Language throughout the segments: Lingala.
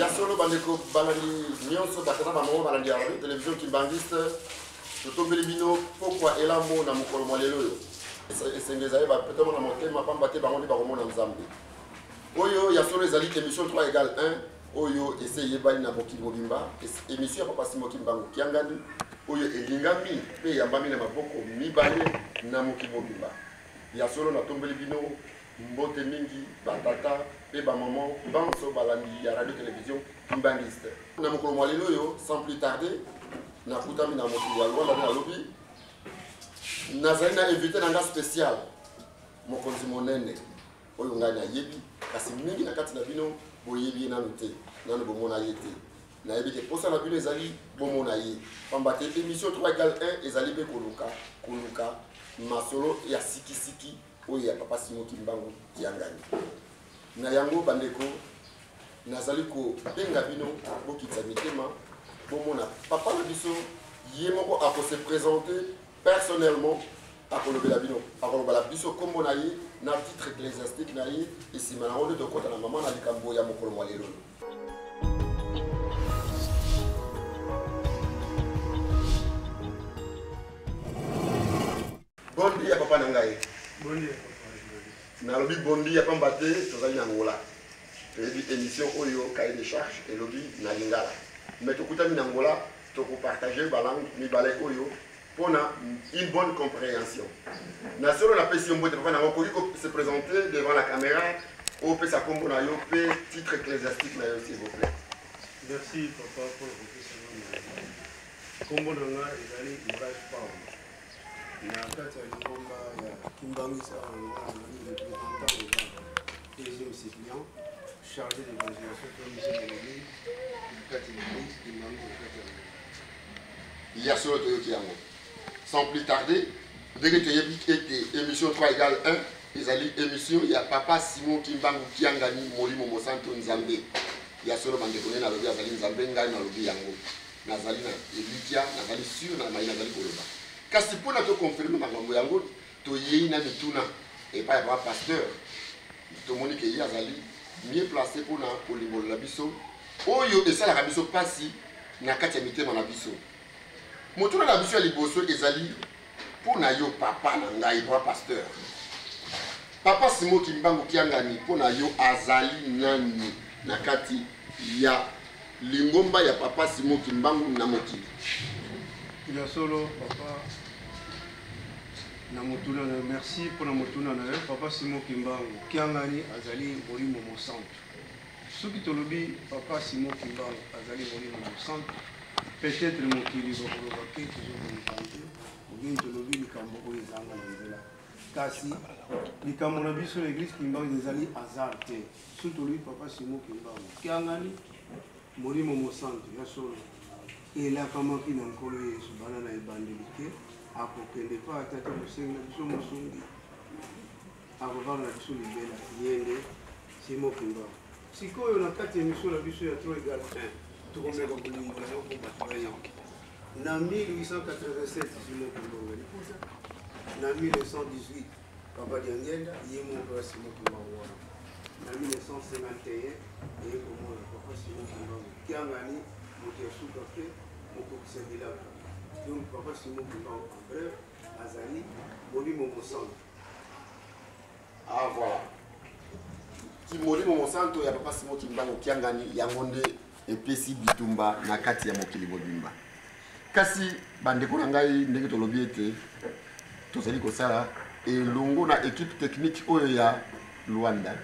ya solo bandeko balandi nyonso bato na bango balandi ya radio télévision kimbangiste totombeli bino pokwa elambo na mokolo mwa lelo oyo esengi ezali bapetamo na motema mpamba te bango nde bakomona nzambe oyo ya solo ezali émission 3 égal 1 oyo esi eyebani na mokili mobimba emisio ya papa simoki mbangu kiangani oyo elingami mpe eyambami na maboko mibale na mokili mobimba ya solo natombeli bino mbote mingi batata mpe bamama banso balandi ya radio television kimbanguiste na mokolo mwa lelo oyo sans plus tarde nakutami na mokili ya lwanda nde nalobi nazali na invité na nga spécial mokonzi monene oyo ngai nayebi kasi mingi na kati na bino boyebi ye nano te nano bomona ye te nayebi te mposa na bino ezali bomona ye pamba te émission 3 egal 1 ezali mpe koluka koluka masolo ya sikisiki oyo ya papa simo kimbangu kiangani na yango bandeko nazali kobenga bino bokitisa mitema bomona papa na biso ye moko akose présente personnellement akolobela bino akolobala biso nkombo na ye na titre ecclésiastique na ye nsima nango nde tokota na mama na likambo ya mokolo mwa lelo bondi ya papa na ngai nalobi bondi ya pamba te tozali na ngola toyebi émission oyo cahier de charge elobi na lingala mais tokutami na ngola Toko partager ba langues mibale oyo mpo na une bonne compréhension. Na solo napesi yo mbote papa na okoki ko se présenter devant la caméra opesa kombo na yo mpe titre ecclésiastique na yo s'il vous plaît. Merci papa mpo na kopesa ngai kombo na nga ezali Murage Paul na kati ya lingomba ya Kimbangu Sarah Lingomba na representant Deuxième suppléant, chargé de l'évangélisation, comme Michel Malobi, Bukati Malobi, Kimbangu, Bukati Malobi. Il y a solo Toyoti Yango. Sans plus tarder, dès que tu as dit que émission 3 égale 1, ils allaient émission, il y a Papa Simon Kimbangu Kiangani, Molimo Mosanto Nzambe. Il y a solo Mandekone, Nalobi, Azali Nzambe, Ngai, Nalobi Yango. Nazali na Elikia, Nazali sûr, Nazali Koloba. Kasi mpo na toconfirme makambo yango toyei na mituna epai ya papa pasteur tomoni ke ye azali mieux place mpo na kolimbolela biso oyo esalaka biso mpasi na kati ya mitema na biso motuna na biso ya liboso ezali mpo na yo papa na ngai papa pasteur papa simo kimbangu kiangani mpo na yo azali nani na kati ya lingomba ya papa simo kimbangu na mokili ya solo papa na motuna na yo merci mpo na motuna na yo papa simo kimbangu kiangani azali molimo mosantu soki tolobi papa simo kimbangu azali molimo mosantu peut-être mokili bakoloba ke tozobonkanze obini tolobi likambo oyo ezanga na nzela kasi likambo na biso na eglise kimbangu ezali hasard te soki tolobi papa simo kimbangu kiangani molimo mosantu ya solo Elakamaki na Nkolo Yesu banda na ebandeli te akokende mpo ata te mosengi na biso mosungi akofanda na biso libela ye nde simo kimba sikoyo na kati ya emission na biso ya tro egal 1 tokomeka kolingana okobato na 1887 simo kimba na 1918 Papa Diangenda, ye moko asima kimbangu wana na 1951 eye komona papa sima kimbangu kiangani moto ya suka mpe mokokisa bilaka donc papa sima kimbangu en bref azali molimo mosantu ah voilà kimolimo mosanto ya papa simo kimbangu kiangani yango nde epesi bitumba na kati ya mokili mobimba kasi bandeko na ngai ndenge tolobi ete tozali kosala elongo na ekipe technique oyo ya luanda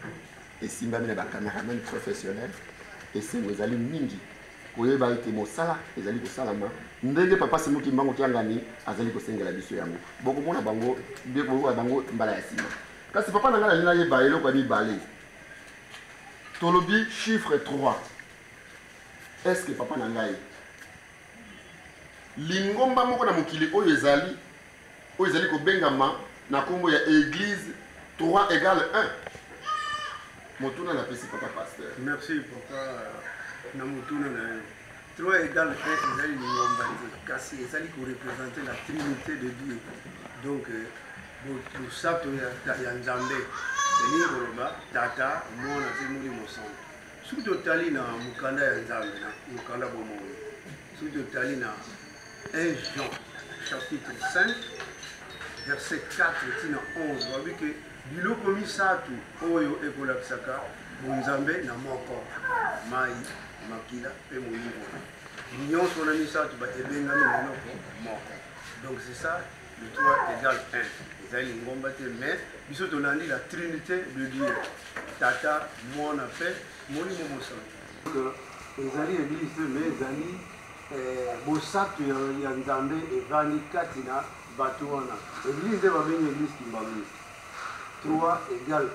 esimbami na bacameraman professionnel esengo ezali mingi koyeba ete mosala ezali kosalama ndenge papa simuki mbango kiangani azali kosengela biso yango bokomona bango bokoyoka bango mbala ya nsima kasi papa na ngai nalingi nayeba eloko ya mibale tolobi chiffre 3 est ce que papa na ngai lingomba moko na mokili oyo ezali oyo ezali kobengama na nkombo ya église 3 égale 1 motuna napesi papa pasteur merci papa na motuna na yo 3 égale 1 ezali lingomba te kasi ezali korepresente la trinité de dieu donc euh, Bosato ya Nzambe elingi koloba Tata, Mwana mpe Molimo Santu. Soki totali na mokanda ya Nzambe, na mokanda bomoi, soki totali na 1 Jean chapitre 5 verset 4 tina 11 babi ke biloko misato oyo ekolakisaka bonzambe na moko mai makila mpe molimo nyonso wana misato ebengami monoko moko donc c'est ça Le 3 égale 1. Ezali lingomba te, mais biso tolandi la trinité de Dieu. Tata, Mwana mpe Molimo Mosantu. Ezali eglise te, mais ezali eh, bosato ya Nzambe evandi kati na bato wana. Eglise nde babengi eglise kimbanguiste. 3 égale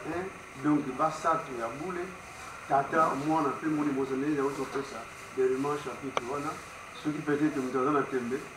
1, donc basato ya bule, Tata, Mwana mpe Molimo Mosantu. Nde yango topesa Berman chapitre wana, soki peut-être moto aza na tembe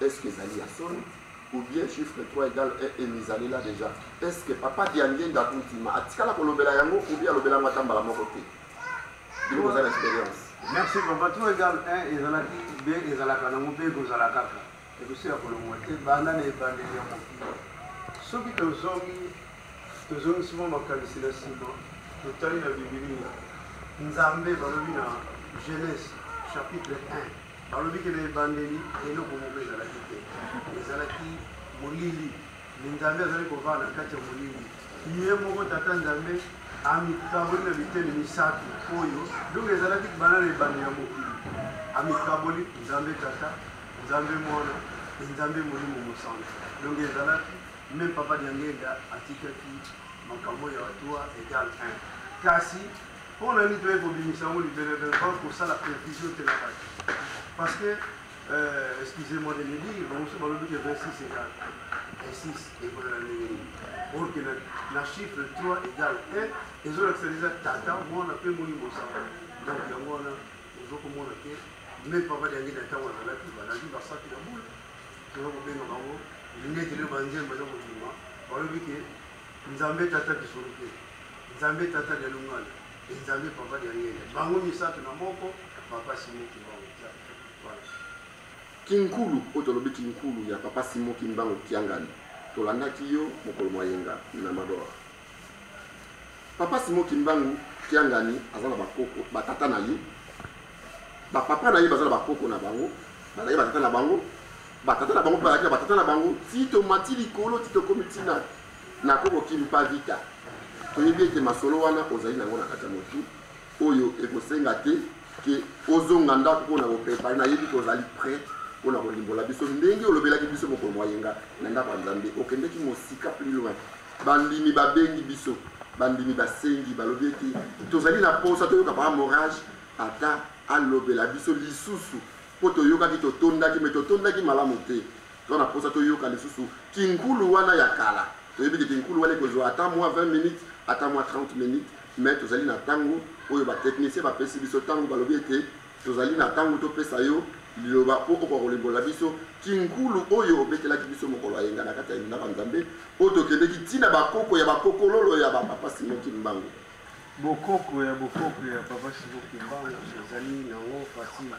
Est ce que ezali ya solo ou bien chiffre 3 égale 1 emizalela déjà? Est ce que papa Diangenda Akuntima atikala kolobela yango ou bien alobela yango ata mbala moko te? Bino boza na experience. Merci papa 3 égale 1 ezalaki be ezalaka nango mpe ekozala kaka ekosi ya kolongwa te banda na ebandeli ya mokili soki tozongi tozongisi mwa makanisi na nsima totali na bibilia nzambe balobi na genèse chapitre 1 Balobi ke na ebandeli eloko moko ezalaki te, ezalaki molili, mais Nzambe azali kovanda na kati ya molili. Ye moko Tata Nzambe amikaboli na biteni misato oyo, donc ezalaki banda na ebandeli ya mokili. Amikaboli Nzambe Tata, Nzambe Mwana, et Nzambe Molimo Mosantu. Donc ezalaki meme Papa Diangienda atikaki makambo ya batua egal 1 kasi Mpo na nini toyei kobimisa yango libele bele mpo kosala confusion te na bato parce que euh, excusez-moi de le dire bango mosusu balobi ke 26 egal 26 ekozala ndenge nini or ke na chiffre 3 egal 1 ezolakisa deja tata mwana mpe molimo sango donc yango wana ozokomona ke meme papa diangi na ntango azalaki balandi basaki na bule toza kobenga bango nete leo banzembo baza kobima balobi ke Nzambe Tata Lisolo mpe Nzambe Tata lya Lungala mpe Nzambe Papa lya Ngele, bango misato na moko, Papa Simon Kimbangu Kiangani. Voilà. Kinkulu, oyo tolobi kinkulu ya Papa Simon Kimbangu Kiangani, tolandaki yo mokolo mwa yenga na Magor. Papa Simon Kimbangu Kiangani aza na bakoko, batata na ye, bapapa na ye baza na bakoko na bango, bazali batata na bango, Batata na bango mpe bazalaki na batata na bango ti tomati likolo ti tokomi ntina na koko kimpa vita. Toyebi ete masolo wana ozali na yango na kati ya motu oyo ekosenga te ke ozonga ndako mpo na koprepare. Nayebi ke ozali pre mpo na kolimbola biso ndenge olobelaki biso mokolo mwa yenga na ndako ya Nzambe. Okendeki mosika plus loin. Bandimi babengi biso, bandimi basengi, balobi ete tozali na mposa toyoka Papa Morage ata alobela biso lisusu Mpo toyokaki, totondaki, mais totondaki malamu te. Toza na posa toyoka lisusu kinkulu wana ya kala. Toyebi ke kinkulu wana ekozua ata mua 20 minutes, ata mua 30 minutes, mais tozali na tango oyo ba techniciens bapesi biso tango, balobi ete tozali na tango topesa yo liloba mpo okoka kolimbolela biso kinkulu oyo obetelaki biso mokolo ya yenga na kati ya ndako ya Nzambe, oyo tokendeki ti na bakoko ya bakokololo ya ba Papa Simon Kimbangu. Bokoko ya bokoko ya Papa Simo Kimbangu ezali nango facile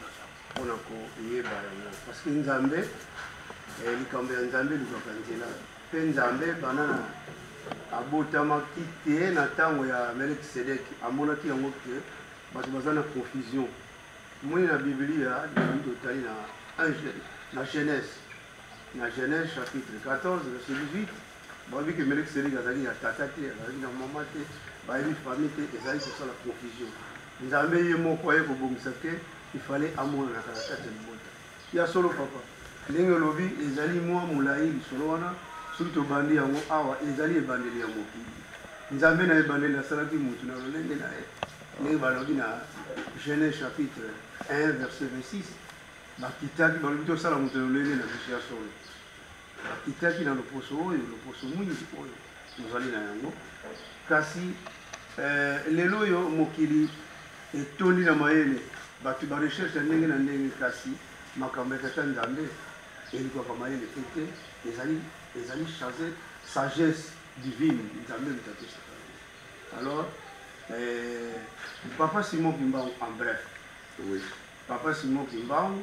mpo na koyeba yango parce que Nzambe eh, likambo ya Nzambe elukaka nzela mpe Nzambe banana abotamaki te na ntango ya melekisedeki amonaki yango te bato baza na confusion moni na biblia lingi totali na genèse na genèse chapitre 14 verset 18 Bayebi ke Melek Selik azalaki na tata te, azalaki na mama te, bayebi famille te, ezali kosala confusion. Nzambe ye moko aye kobongisa ke ifale amonanaka na kati ya libota. Ya solo papa, ndenge olobi ezali mwa molai lisolo wana, soki tobandi yango awa ezali ebandeli ya mokili. Nzambe na ebandeli asalaki motu na lolenge na ye, ndenge balobi na Genèse chapitre 1 verset 26 bakitaki balobi tosala moto na lolenge na biso ya solo Nakitaki na loposo oyo, loposo mwingi oyo tozali na yango, kasi eh, lelo oyo mokili etondi na mayele bato ba recherche ya ndenge na ndenge, kasi makambo ya tata Nzambe elukwaka mayele te te, ezali ezali chase sagesse divine Nzambe moto apesaka alors eh, papa Simon Kimbangu en bref oui. papa Simon Kimbangu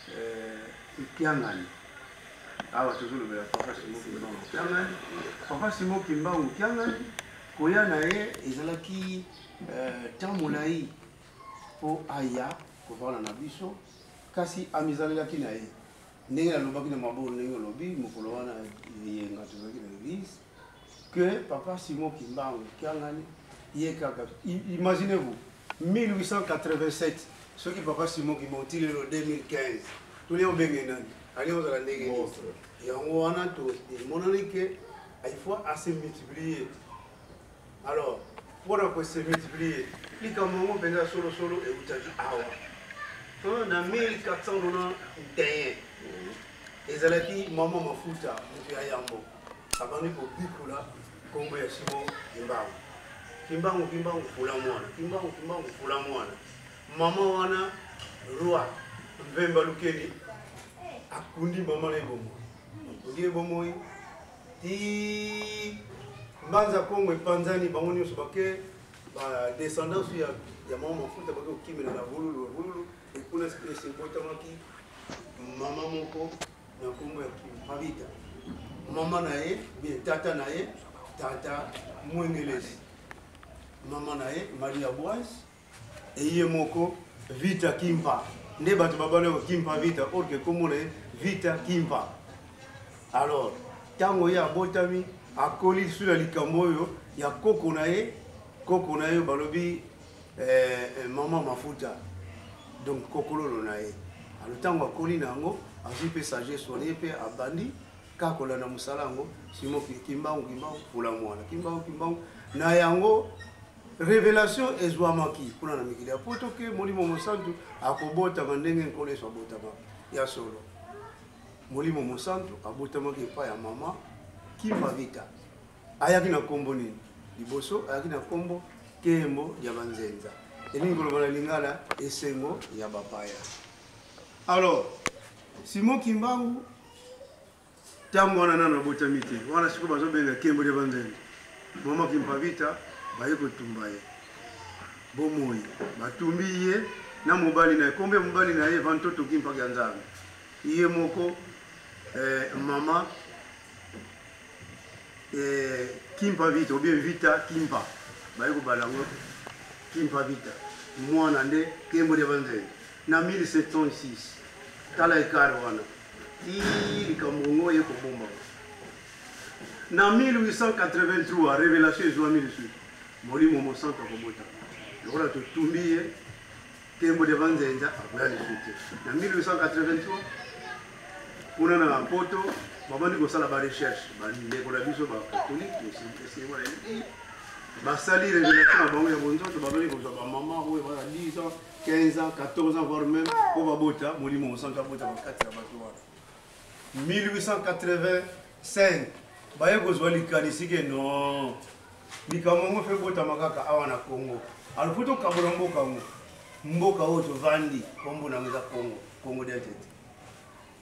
Eh, Kiangani. Awa tozolobela Papa Simon Kimbangu Kiangani. Papa Simon Kimbangu Kiangani, koya na ye ezalaki ntango eh, molai mpo aya kovanda na biso, kasi amizalelaki na ye ndenge nalobaki na maboko ndenge olobi mokolo wana eyenga tozalaki na eglise que papa simon kimbangu kiangani ye kaka imaginez vous 1887 soki papa simon kimon ti lelo 2015 tolia obenge nani ali ozala ndenge yango wana emonani ke il faut ase multiplier alors mpona kose multiplier likambo yango mpenza solosolo eutaki awa na 1491 ezalaki mama mafuta moto ya yambo abandi kobikula Kombo ya Simon Kimbangu. Kimbangu Kimbangu fula mwana. Kimbangu Kimbangu fula mwana. Maman wana roi Mvemba Lukeni akundi maman na ebongo. Akundi ebongo ti mbanza Kongo epanzani bango nyonso bake ba descendance ya ya maman mafuta bake kokimela na bululu bululu ekuna esibotamaki mama moko na nkombo ya kimabita mama na ye bie tata na ye tata mwengelesi mama na ye maria boise eye moko vita kimpa nde bato babala ko kimpa vita orke nkombo na ye vita kimpa alors ntango ye abotami akoli lisusu na likambo oyo ya koko na ye koko na ye balobi eh, eh, mama mafuta donc kokololo na ye alo ntango akoli na yango azwi mpe sagesse wana ye mpe abandi kaka kolanda mosala yango simo kimbangu kimbangu pula mwana kimbangu kimbangu na yango révélation ezwamaki kuna na mikili ya poto ke molimo mosantu akobotama ndenge nkolo yesu abotamaka ya solo molimo mosantu abotamaki epai ya mama kimavita ayaki na nkombo nini liboso ayaki na nkombo kembo ya banzenza elingi koloba na lingala esengo ya bapaya alors simon kimbangu ntango wana nano abotami te wana sikoyo bazobenga kembo ya banzenza mama kimpavita baye kotumba ye bomoi batumbi ye na mobali na ye nkombo ya mobali na ye vantoto kimpaka ya nzambe ye moko eh, mama eh, kimpa vita obie vita kimpa baye kobala yango kimpa vita mwana nde kembo lya banzele na 1706 tala ekare wana ti likambo yango ye kobomba na 1883 revelation ezwami lisusu molimo mosantu akobota lokola totumbi ye Tembo de Manzenza akoya lisusu te. Na 1883 kuna na Mpoto babandi kosala ba recherche bandeko na biso bakatolike esengo na eliki basali révélation na bango ya bonzoto babandi kozwa bamama oyo bana 10 ans 15 ans 14 ans voire même mpo babota molimo mosantu abota bakati ya bato wana 1880 Cinq, baye kozwa likanisi ke non likambo yango mpe ebotama kaka awa na congo alors mpo tokabola mboka yango mboka oyo tovandi nkombo na yango eza congo congo del tete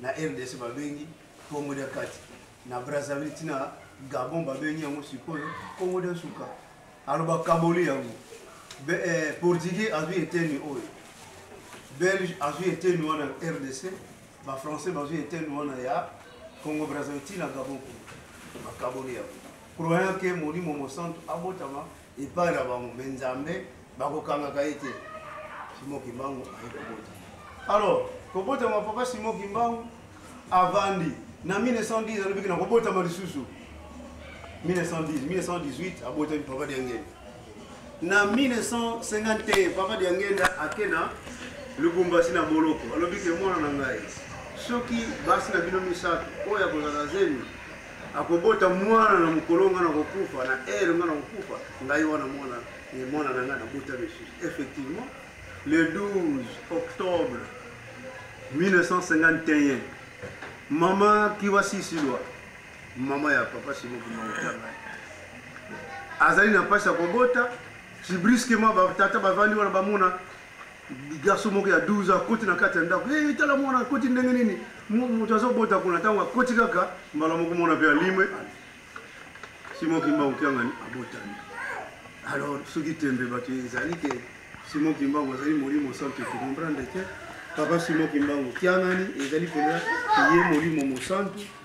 na rdc babengi congo del kati na brazzaville ntina gabon babengi yango sikoyo congo del suka alors bakaboli yango eh, portugais azwi eteni oyo belge azwi eteni wana rdc Ba français bazui interne wana ya Congo Brazzaville ti na Gabon kuna bakaboli yango croyant ke molimo mosantu abotama epai na bango me nzambe bakokangaka ye te simo kimbangu aye kobota alors kobotama papa simo kimbangu avandi na 1910 alobiki na kobotama lisusu 1910 1918 abotami papa diangeli Na 1951, Papa Diangenda ake na Lubumbashi na boloko. Alobi ke mwana na ngai, soki basi na bino misato oyo akozala zemi akobota mwana na mokolo ngai nakokufa na ere ngai nakokufa ngai wana mwana ye mwana na ngai nabota lisusu effectivement le 12 octobre 1951 mama kiwasisilwa mama ya papa simo kimbangu tanga azali na mpasi ya kobota si brusquement batata bavandi wana bamona garçon moko ya 12 akoti na kati ya ndako e tala mwana akoti ndenge nini moto azobota kuna ntango akoti kaka mbala moko mwana mpe alimwe simo kimbangu kiangani abotami alors soki tembe bato ezali ke simo kimbangu azali molimo santu ekomprendre te papa simo kimbangu kiangani ezali mpenza ye molimo mosantu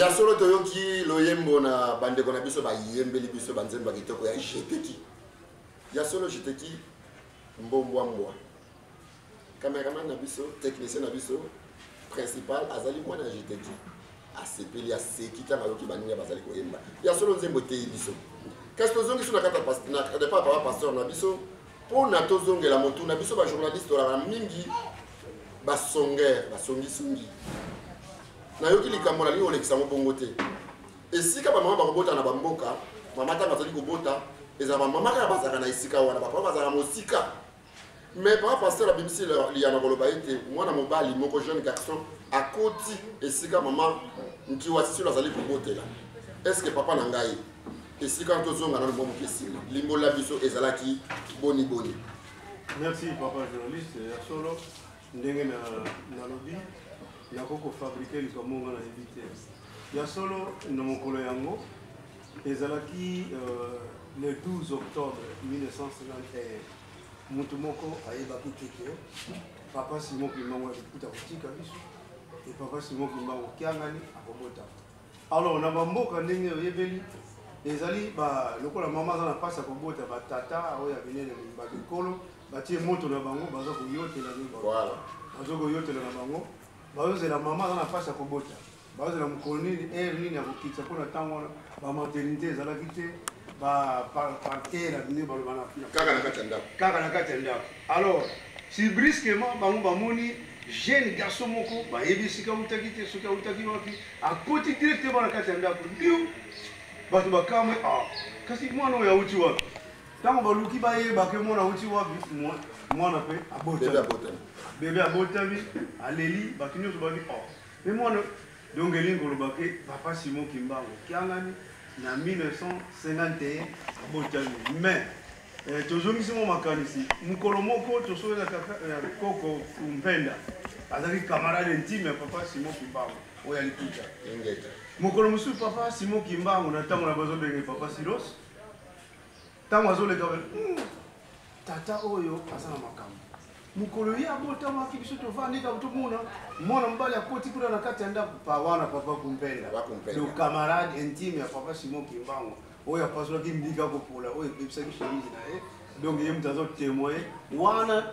ya solo toyoki loyembo na bandeko na biso bayembeli biso banzembo ya kitoko ya jeteki ya solo jeteki mbombwa mbwa cameraman na biso technicien na biso principal azali mwana ya jeteki asepeli aseki ntango ayoki baninga bazali koyemba ya solo nzembo eteyi biso kasi tozongisi na kati ya papa pasteur na biso Mpo na tozongela motuna, biso ba journaliste tolaka mingi basongere basongisongi. Nayoki likambo nalingi kolekisa yango bongo te. Esika bamama bakobota na bamboka, mama ntango azali kobota, ezala bamama kaka bazalaka na esika wana, bapapa bazalaka mosika. Mais papa pasteur abimisi liyama koloba ete mwana mobali moko jeune garçon akoti esika mama nkiwa sisilo azali kobotela. Est-ce que papa na ngai esika wana tozonga nano mwa moke nsima limbola biso ezalaki boni boni merci papa journaliste ya solo ndenge nalobi nakoki kofabrike likambo nga nayebi te ya solo na mokolo yango ezalaki euh, le 12 octobre 1951 motu moko ayebaki te ke papa simon kimbangu alikuta kotika biso e papa simon kimbangu kiangani akobotama Alors na bamboka ndenge oyebeli ezali ba lokola mama aza na mpasi ya kobota batata oyo ya minene babikolo batie moto na bango baza koyotela baza koyotela na bango bazozela mama aza na mpasi ya kobota bazozela mokolo nini aire nini ya kokitisa mpo na ntango wana bamaternité ezalaki te baparke na bino baloba kaka na kati ya ndako Alors, si brusquement bango bamoni jeune garçon moko bayebi esika autaki te soki autaki wapi akoti directement na kati ya ndako ndio bato bakamwe ah, kasi mwana oyo auti wapi ntango baluki bayebake mwana auti wapi mwana mpe abotami bebe abotami aleli bato nyonso babi ah, me mwana Donc elingi koloba ke papa Simon Kimbangu Kiangani na 1951 abotami mais eh, tozongisi mwa makanisi mokolo moko tosolela kaka eh, koko Mpenda azalaki camarade intime ya papa Simon Kimbangu oyo ya Likuta mokolo mosusu papa Simon Kimbangu na ntango na bazobenge papa Silos ntango azoleka hmm, tata oyo aza na makambo mokolo ye abotamaki biso tovandi kaka tomona mwana mobali akoti kuna na kati ya ndako pa wana papa kumpenda le camarade intime ya papa simon kimbango oyo apasolaki mbika kopola oyo ebebisaki chemise na ye donc ye moto azotemoye wana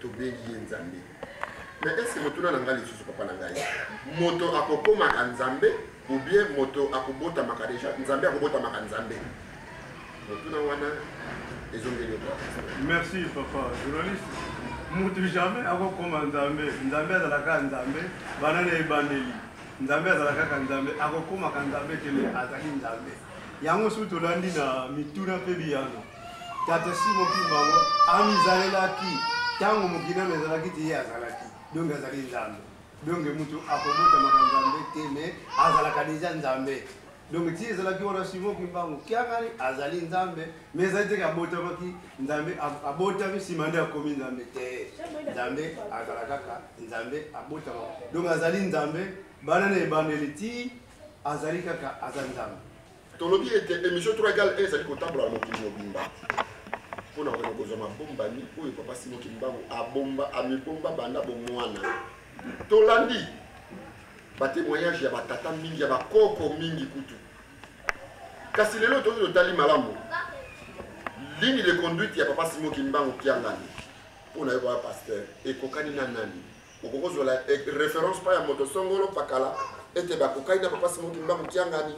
tobengi ye nzambe me ese motuna na ngai lisusu papa na ngai moto akokomaka nzambe oubien moto akobotamaka deja nzambe akobotamaka nzambe motuna wana ezongeli merci papa journaliste moto jamais akokoma nzambe nzambe azalaka nzambe bana na ebandeli nzambe azalaka kaka nzambe akokomaka nzambe kele azali nzambe yango soki tolandi na mituna mpe biyano Tata Simon Kimbangu amizalelaki ntango mokili nano ezalaki te ye azalaki donc azali nzambe donc moto akobotamaka nzambe te me azalaka deja nzambe donc ti ezalaki wana Simon Kimbangu kiangani azali nzambe me ezali teke abotamaki nzambe abotami nsima nde akomi nzambe te nzambe azala kaka nzambe abotamaka donc azali nzambe bana na ebandeli ti azali kaka aza nzambe Tolobi ete emission Trois Gales ezali kotambola na mokili mobimba mpo na kona kozwa mabombami oyo Papa Simon Kimbangu abomba amibomba banda bomwana. Tolandi batemoignage ya batata mingi ya bakoko mingi kutu, kasi lelo toki totali malamu ligne de conduite ya Papa Simon Kimbangu Kiangani mpo na yo baya pasteur ekokani na nani? okoki kozwela reference mpa ya moto songolo pakala ete bakokani na papa simo kimba mokiangani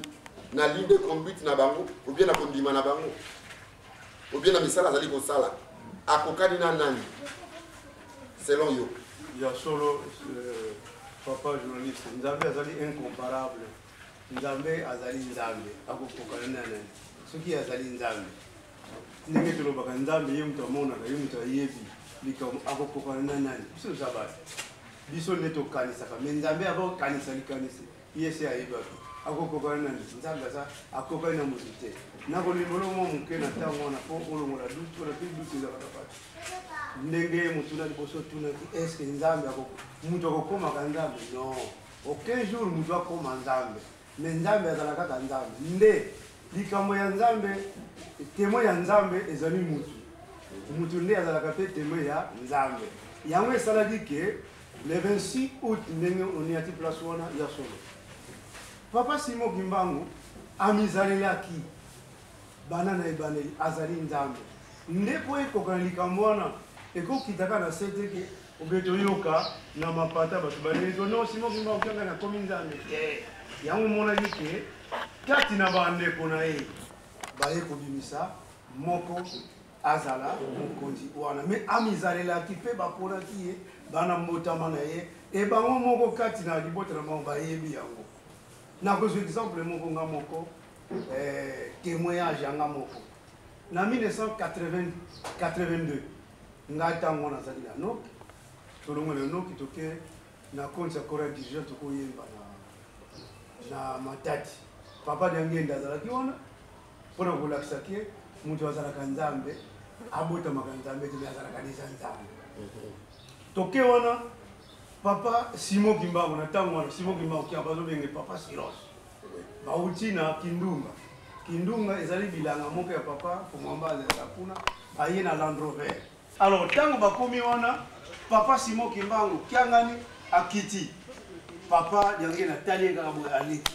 na ligne de conduite na bango obie na kondima na bango obie na misala azali kosala akokani na nani selon yo ya solo euh, papa journaliste nzambe azali incomparable nzambe azali nzambe akokokana na nani soki azali nzambe ndenge tolobaka nzambe ye moto amonaka ye moto ayebi likambo akokokana na nani biso toza bato biso nde tokanisaka me nzambe akokanisa likanisi ye se ayebaki akokokana nani nzambe aza akokani na moto te nakolimbola mwa moke na ntango wana mpo olongola dutu wana mpe dutu ezaka na bato ndenge motuna liboso otunaki estce nzambe moto akokomaka nzambe non aucun jour moto akoma nzambe Mais Nzambe azala kaka Nzambe. Nde likambo ya Nzambe, temo ya Nzambe ezali mutu. Mutu nde azalaka pe temo ya Nzambe. Yango esalaki ke le 26 août ndenge oniati place wana ya solo. Papa Simon Kimbangu amizalelaki bana na ebandeli azali Nzambe. Nde po ekokana likambo wana ekokitaka na sete ke Ou bien toyoka na mapata bato baleli to non Simon Kimba okanga na komi Nzambe te. Yango monaki ke kati na bandeko na ye baye kobimisa moko azala mokonzi wana me amizalelaki mpe baponaki ye bana mbotama na ye e bango moko kati na libota na bango bayebi yango nakozwa exemple moko nga moko eh, témoignage yanga moko na 1982 ngai ntango wana azali na noki tolongo na noki toke na konti ya kora dirigeant tokoyemba na, na matati papa diangenda azalaki wana mpo na kolakisa ke moto azalaka nzambe abotamaka nzambe te me azalaka deja nzambe toke wana papa simo kimbango na ntango wana simo kimbango kia bazobenge papa silos Bauti na Kindunga. Kindunga ezali bilanga moko ya papa Komwamba azalaka kuna, aye na Land Rover. Alors ntango bakomi wana, papa Simon Kimbangu Kiangani akiti. Papa Diangienda atali ye kaka boye aleki.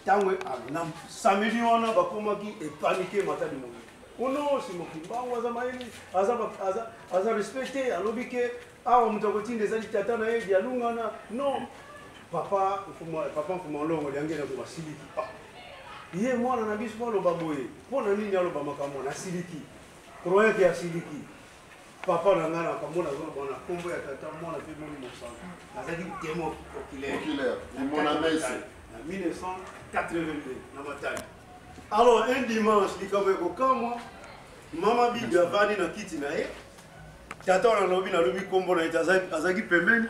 Ntango na samedi wana bakomaki epanike Matadi Monganga. Ono Simon Kimbangu aza mayele, aza respecte, alobi ke awa moto akotinda eza litata na ye dialungana non papa papa mfuma olongo liangeli yango basiliki ah. ye mwana na biso aloba boye mpo na nini aloba makambo na siliki croyant ke asiliki papa na ngai nakamona azoloba na nkombo ya tata mwana mpe moni mosano nazalaki temo oculaire na 1982 na matali alors un dimanche likambo ekokamwa mama bibi avandi na kiti na ye tata wana lobi nalobi nkombo na ete azalaki pembeni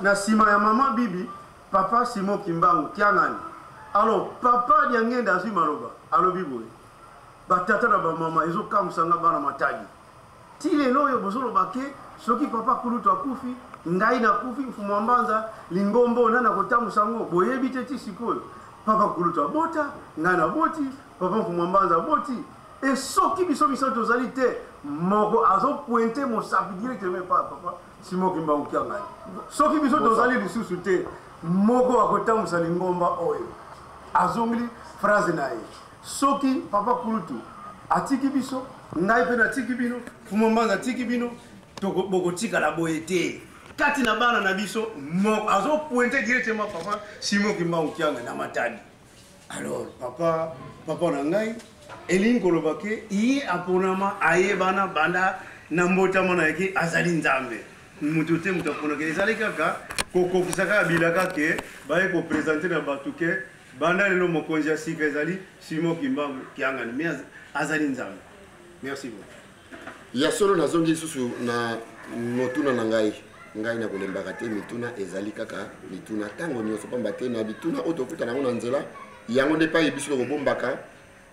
na nsima ya mama bibi papa simo kimbangu kiangani alors papa diangenda azwi maloba alobi boye batata na bamama ezokamwisa nga bana matadi ti lelo oyo bozoloba ke soki papa kulutu akufi ngai nakufi mfumu ya mbanza lingombo nani akotambusa yango boyebi te ti sikoyo papa kulutu abota ngai naboti papa mfumu ya mbanza aboti Et soki biso misato tozali te moko azo pointe mosapi directement epa papa simo kimbangu kia ngai soki biso tozali lisusu te moko akotambusa lingomba oyo azongeli phrase na ye soki papa kulutu atiki biso ngai mpe natiki bino fuma mbanza atiki bino bokotikala boye te kati na bana na biso azopointe directement papa simo kimbangu kianga na matadi alors papa papa na ngai elingi koloba ke ye aponama ayebana banda na mbotama na yeke azali nzambe moto te moto aponaka ezali kaka kokokisa kaka bilaka ke baye kopresente na bato ke banda lelo mokonzi ya sika ezali simon kimbangu kiangani me azali nzambe merci beaucoup ya solo nazongi lisusu na motuna na ngai ngai na kolembaka te mituna ezali kaka mituna ntango nyonso mpamba te na bituna oyo tokuta nango na nzela yango nde epai biso tokobombaka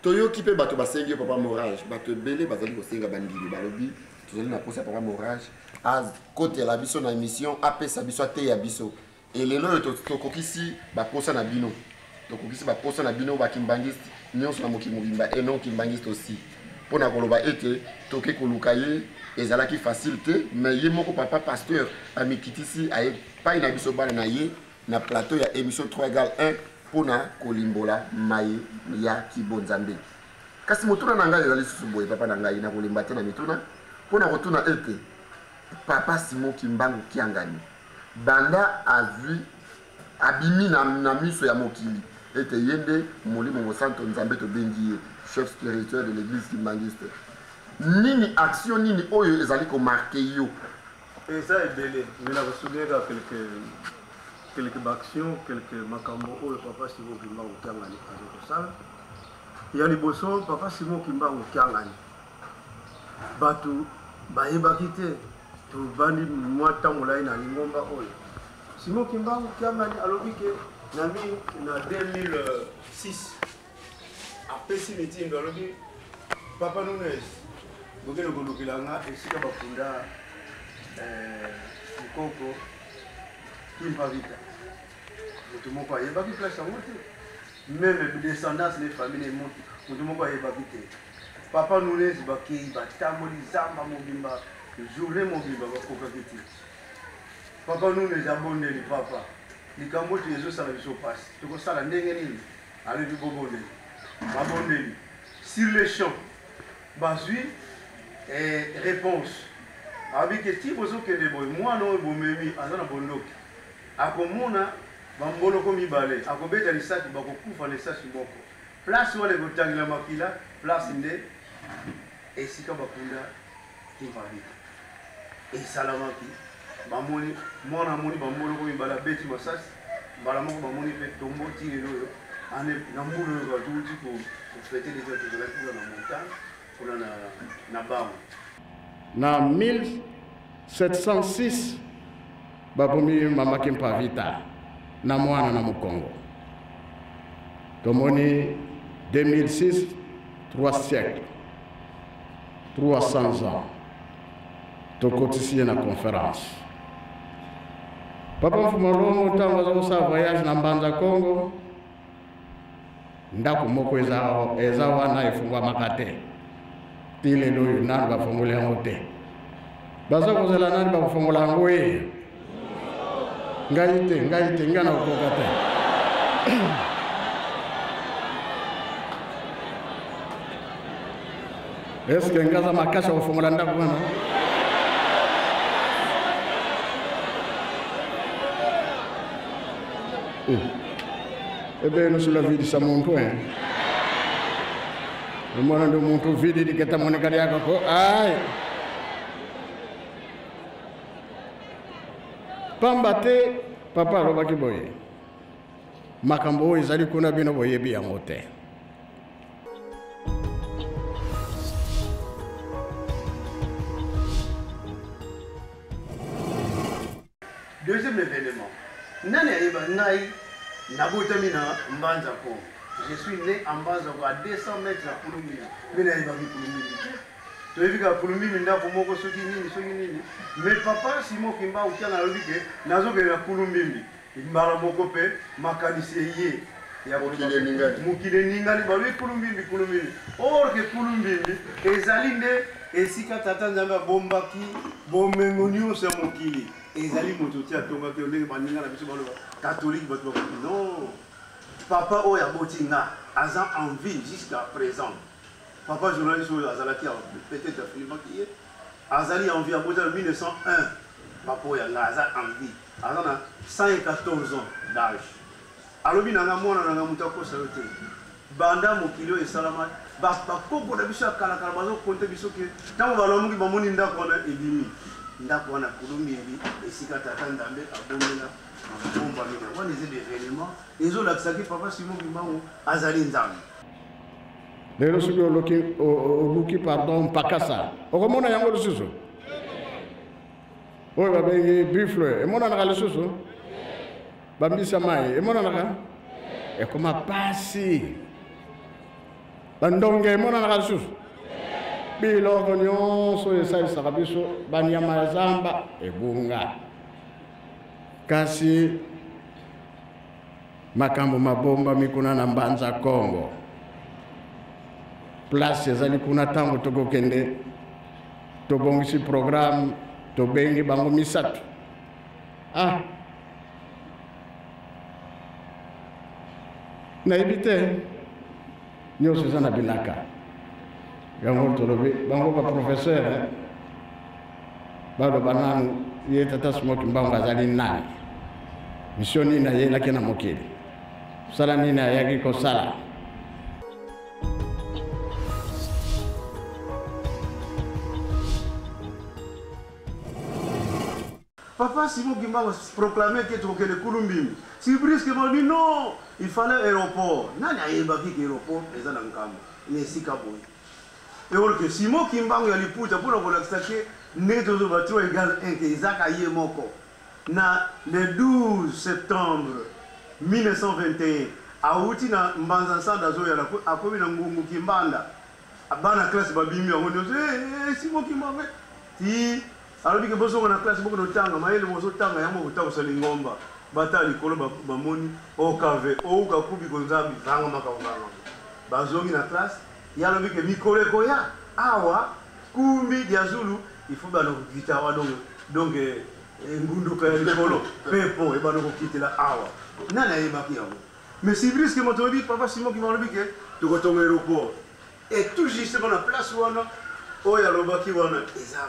toyoki mpe bato basengi yo papa morage bato ebele bazali kosenga bandimi balobi tozali na mposa papa morage akotela biso na émission apesa biso ateya biso e lelo oyo tokokisi baposa na bino tokokisi baposa na bino bakimbangiste nyonso na mokili mobimba e non kimbangiste aussi mpo na koloba ete toke koluka ye ezalaki facile te mais ye moko papa pasteur amikitisi aye pai na biso bana na ye na plateau ya émission 3 egal 1 mpo na kolimbola maye ya kibonzambe kasi motuna na ngai ezali lisusu boye papa na ngai nakolemba te na mituna mpo na kotuna ete papa simo kimbangu kiangani Banda azwi, abimi na, na miso ya mokili ete ye nde Molimo Mosanto, Nzambe tobengi ye chef spirituel de l'Eglise Kimbanguiste. Nini action nini oyo ezali ko marquer yo? Eza ebele, mais na ko souligner kaka quelques quelques bactions quelques makambo oyo papa simo kimbangu kiangani azali kosala ya liboso papa simo kimbangu kiangani bato bayebaki te Tobandi mwa ntango molai na lingomba oyo. Simon Kimbangu Kiangani alobi ke na 2006 apesi mitindo alobi papa nunes bokende kolukela nga esika bakunda eh, mokoko kimpavita moto moko ayebaki place yango te meme descendance ne famille ne moto moko ayebaki te Papa Nunez bakeyi batamboli zamba mobimba journee mobimba bakokaki te. Papa Nunez abondeli papa likambo oyo ezosala biso pasi tokosala ndenge nini alobi bobondeli babondeli sur le champ bazwi eh, réponse alobi ke ti bozokende boye mwana oyo bomemi aza na bondoki akomona bamboloko mibale akobeta lisaki bakokufa na esasi moko Place wana ekotangela makila, place nde esika bakunda Kimpa Biko. Esalamaki, bamoni mwana amoni bamboloko mibale abeti masasi, mbala moko bamoni mpe tombo ti lelo oyo na mbula oyo batuti kofete deja tozalaki kuna na montagne kuna na, na bango na 1706 babomi mama kimpavita na mwana na mokongo tomoni 2006 3 siècle 300 ans tokotisi ye na conférence papa mfumalongo ntango aza kosala voyage na mbanza congo ndako moko eza, eza wana efungwamaka te ti lelo oyo nani bafongoli yango te baza kozela nani bakofongola yango ye ngai te ngai te ngai na kokoka te Est-ce que ngaza makasha kofongola ndako wana? Oh. Eh bien, nous sur la vie de Samonto, hein. Le monde de Monto vide, il est à mon écart, aïe. pamba te papa alobaki boye makambo oyo ezali kuna bino boyebi yango te deuxième événement nani ayeba ngai nabotami na mbanza po je suis né en mbanza ko à 200 mètres ya kulumbi mpe nayebaki kulumbi te toyebi kaka kulumbi mindako moko soki nini soki nini mais papa simo kimba okiana alobi ke nazokende na kulumbimbi Mbala moko mpe makanisi eye ya mokili eningani, mokili eningani, balobi kulumbimbi, kulumbimbi. Or ke kulumbimbi ezali nde esika Tata Nzambe abombaki bomengo nyonso ya mokili, ezali moto te atongaki yo, ndenge baninga na biso baloba katolike, bato bakoki non. Papa oyo aboti nga aza en vie jusqu'à présent. Papa journaliste oyo azalaki peut-être afilmaki ye azali en vie aboti na 1901 papa oyo ya nga aza en vie Aza na 114 ans d'age. Alobi na nga mwana na nga mutu akosa yo te. Banda mokili oyo esalama ba ba koko na biso ya kala kala bazo compter biso ke tango balamuki bamoni ndako wana ebimi. Ndako wana kulumbieli esika tata Ndambe abomela mabomba mina. Wana eza des éléments ezo lakisa ke papa Simon Kimbangu azali Nzambe. lelo soki oluki oluki pardon mpakasa okomona yango lisusu oyo babengi buffle emonanaka lisusu bambisa mai emonanaka ekoma pasi bandonge emonanaka lisusu biloko nyonso esalisaka biso banyama ya zamba ebunga kasi makambo mabombami kuna na mbanza kongo place ezali kuna ntango tokokende tobongisi programme tobengi bango misato ah nayebi te nyonso eza na bilaka yango tolobi bango baprofesseur eh, baloba nanu ye tata smoki mbango azali nani misio nini ayelaki na mokili mosala nini ayaki kosala Papa Simon Kimbangu proclamait que Tokele Kulumbimbi. Si brusquement dit non, il fallait aéroport. Nani ayebaki que aéroport eza na nkambo na esika boye. Et or que Simon Kimbangu ya liputa mpo na kolakisa que ndenge tozoloba trop égal 1 te ezaka ye moko. Na le 12 septembre 1921, awuti na Mbanza Nsanda azoya na Kwetu, akomi na Ngungu Kimbanda, bana classe babimi bango nionso, he he Simon Kimbangu he ti alobi ke bozonga na classe bokende kotanga mayele bozotanga yango bokotabusa lingomba, batala likolo bamoni Okave Ouka Kubi Konzambi vanga makambo vanga, bazongi na classe. Ye alobi ke mikolo ekoya awa Kumbi dia Zulu il faut bano kokita awa donc donc engunduka ya likolo pepo ebano kokitela awa nani ayebaki yango mais sibriske moto oyebi papa simon kima alobi ke tokotonga aéroport et tout justement na place wana oyo alobaki wana eza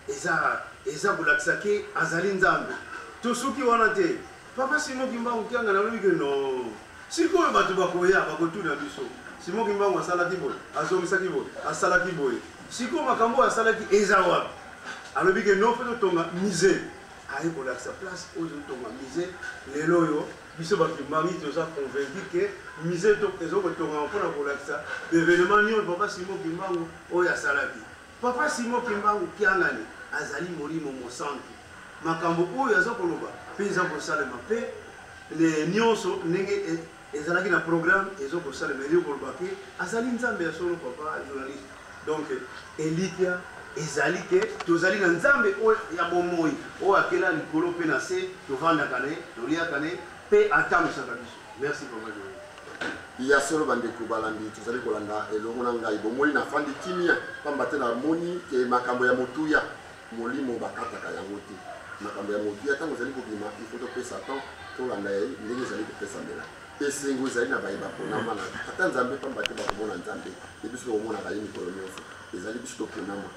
eza eza kolakisa ke azali nzambe tosuki wana te papa simon kimbangu kianga nalobi ke non Sikoyo bato bakoya, bakotuna biso, Simon Kimbangu asalaki boye, azongisaki boye, asalaki boye. Sikoyo makambo oyo asalaki eza wapi? Alobi ke non, faut totonga musee. Aye kolakisa place oyo totonga musee. Lelo oyo biso ba Kimbanguiste toza convaincu ke musee ezokotongama mpo na kolakisa ba evenements nionso papa Simon Kimbangu oyo asalaki. Papa Simon Kimbangu Kiangani azali Molimo Mosantu. Makambo oyo aza koloba pe eza kosalema pe nionso ndenge ezalaki na programme ezo kosalema elingi koloba ke azali Nzambe ya solo papa journaliste. Donc elikya ezali ke tozali na Nzambe oyo ya bomoyi oyo akela likolo pe na se tovandaka na ye, toliaka na ye pe atambwisaka biso. Merci papa Joël. ya solo bandeko balandi tozali kolanda elongo na ngai bomoni na fandi kimia mpamba te namoni ke makambo ya motuya molimo bakataka yango te makambo ya motuya ntango ezali kobima ifo topesa temps tolanda ye ndenge ezali kopesamela esengo ezali na baye baponama na ata nzambe mpamba te bakomona nzambe ye biso tokomonaka ye mikolo nyonso ezali biso toponama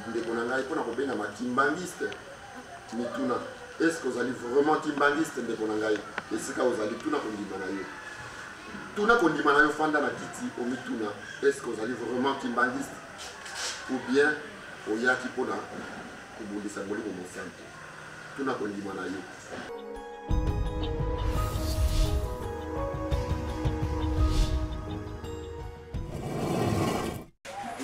Ndeko na ngai, mpo na kobengama kimbanguiste, mituna est-ce que ozali vraiment kimbanguiste? Ndeko na ngai, esika ozali, tuna kondima na yo, tuna kondima na yo, fanda na kiti, omituna est-ce que ozali vraiment kimbanguiste ou bien oyaki mpo na kobundisa molimo mosantu? Tuna kondima na yo.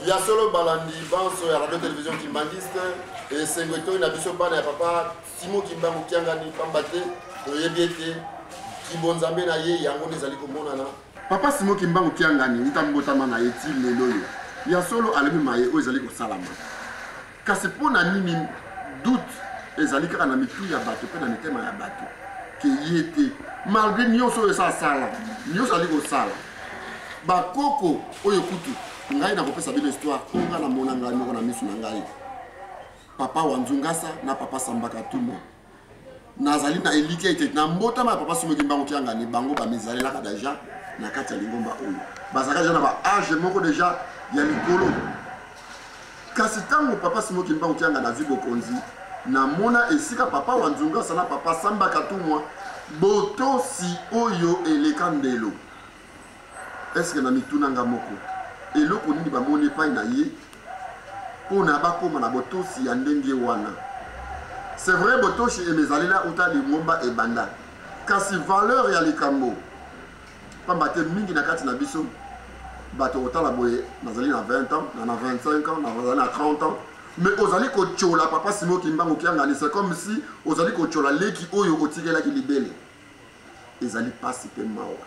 ya solo balandi banso ya radio television kimbanguiste esengo etoi na biso bana ya papa simo kimbangu kiangani pamba te toyebi ete kibonzambe na ye yango nde ezali komonana papa simo kimbangu kiangani uta mbotama na ye ti lelo oyo ya solo alemi maye oyo ezali kosalama Kasi mpo na nini doute ezali kaka na mitu ya bato mpe na mitema ya bato ke ye te malgre nyonso oyo esa asala nyonso azali kosala bakoko oyo kutu ngai nakopesa bino histoire oyo ngai namona ngai moko na miso na ngai papa wanzungasa na papa sambaka tumo nazali na elikya ete na mbotama ya papa somoki mbango kiangani bango bamizalelaka deja na kati ya lingomba oyo bazalaka deja na baage moko deja ya likolo kasi ntango papa simoki mbango kiangani azwi bokonzi namona esika papa wa nzungu asala papa samba katumwa botosi oyo eleka ndelo Est-ce que na mituna nga moko eloko nini ba moni epai na ye pona ba koma na botosi ya ndenge wana? C'est vrai botoshi emezalela uta lingomba ebanda, kasi valeur ya likambo pamba te mingi na kati na biso bato kotala boye nazali na 20 ans na na 25 ans nazali na 30 ans mais ozali kotyola papa simo kimbangu kiangani c'est comme si ozali kotyola leki oyo otikelaki libele ezali mpasi mpe mawa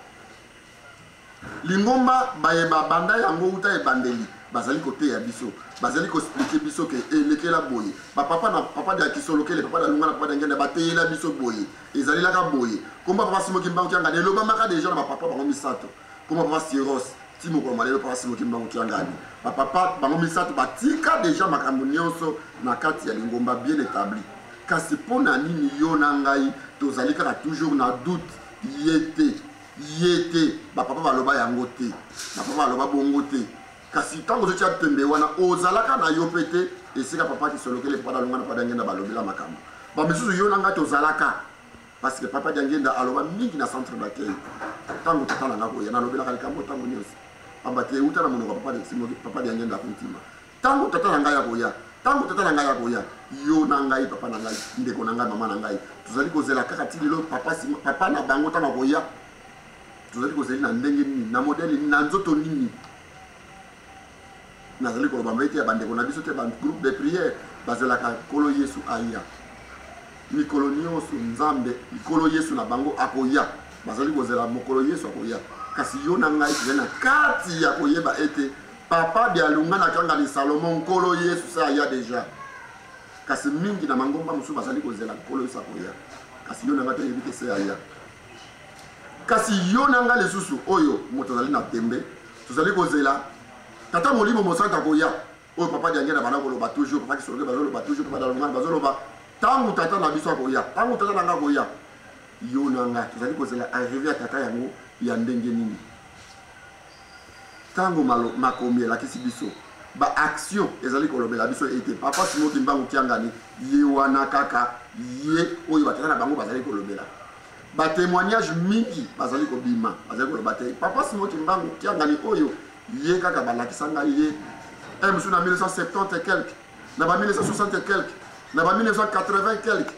Lingomba baye babanda yango wuta ebandeli bazali koteya biso, bazali ko expliquer biso ke elekela boye, ba papa na papa dia kisolokele, papa dia lunga na papa dia ngenda bateyela biso boye, ezalelaka boye. Kombo ya papa Simon Kimbangu Kiangani elobamaka deja na ba papa bango misato, kombo ya papa Cyrose ti mokolo mwa lelo papa Simon Kimbangu Kiangani. Ba papa bango misato batika deja makambo nionso na kati ya lingomba bien etabli. Kasi mpo na nini yo na ngai tozali kaka toujours na doute? ye te ye te bapapa baloba yango te bapapa baloba bongo te kasi ntango ozotya tembe wana ozalaka na yo mpe te esika papa kisolokele papa dalonga na papa diangenda balobela makambo bamisusu yo na ngai tozalaka parce que papa diangenda aloba mingi na centre d'accueil ntango tata na ngai koya nalobelaka likambo ntango nyonso pamba te euta na monoko ya papa diangenda akontima Tango tata na ngai akoya, tango tata na ngai akoya, yo na ngai, papa na ngai, ndeko na ngai, mama na ngai, tozali kozela kaka ti lelo papa, papa na bango ntango akoya. Tozali kozali na ndenge nini, na modele nini, na nzoto nini? nazali koloba mpe te ya bandeko na biso te bagroupe de prière bazelaka nkolo yesu aya mikolo nyonso nzambe nkolo yesu na bango akoya bazali kozela mokolo yesu akoya kasi yo na ngai tozali na kati ya koyeba ete Papa Dialunga na kanga ni Salomon nkolo Yesu se aya deja kasi mingi na mangomba mosusu bazali kozela nkolo Yesu akoya kasi yo na ngai toyebi te se aya kasi yo na ngai lisusu oyo moto azali na tembe tozali kozela tata molimo mosantu akoya oyo papa diange na bana koloba toujours papa kisoloke bazoloba toujours papa dalongana bazoloba ntango tata na biso akoya ntango tata na ngai akoya yo na ngai tozali kozela arrive ya tata yango ya ndenge nini Tango malo, makomi elakisi biso ba action ezali kolobela biso ete papa Simon Kimbangu Kiangani ye wana kaka ye oyo batata na bango bazali kolobela ba témoignage mingi bazali kobima bazali koloba te papa Simon Kimbangu Kiangani oyo ye kaka balakisa ngai ye un mosusu na 1970 et quelque na ba 1960 et quelque na ba 1980 quelque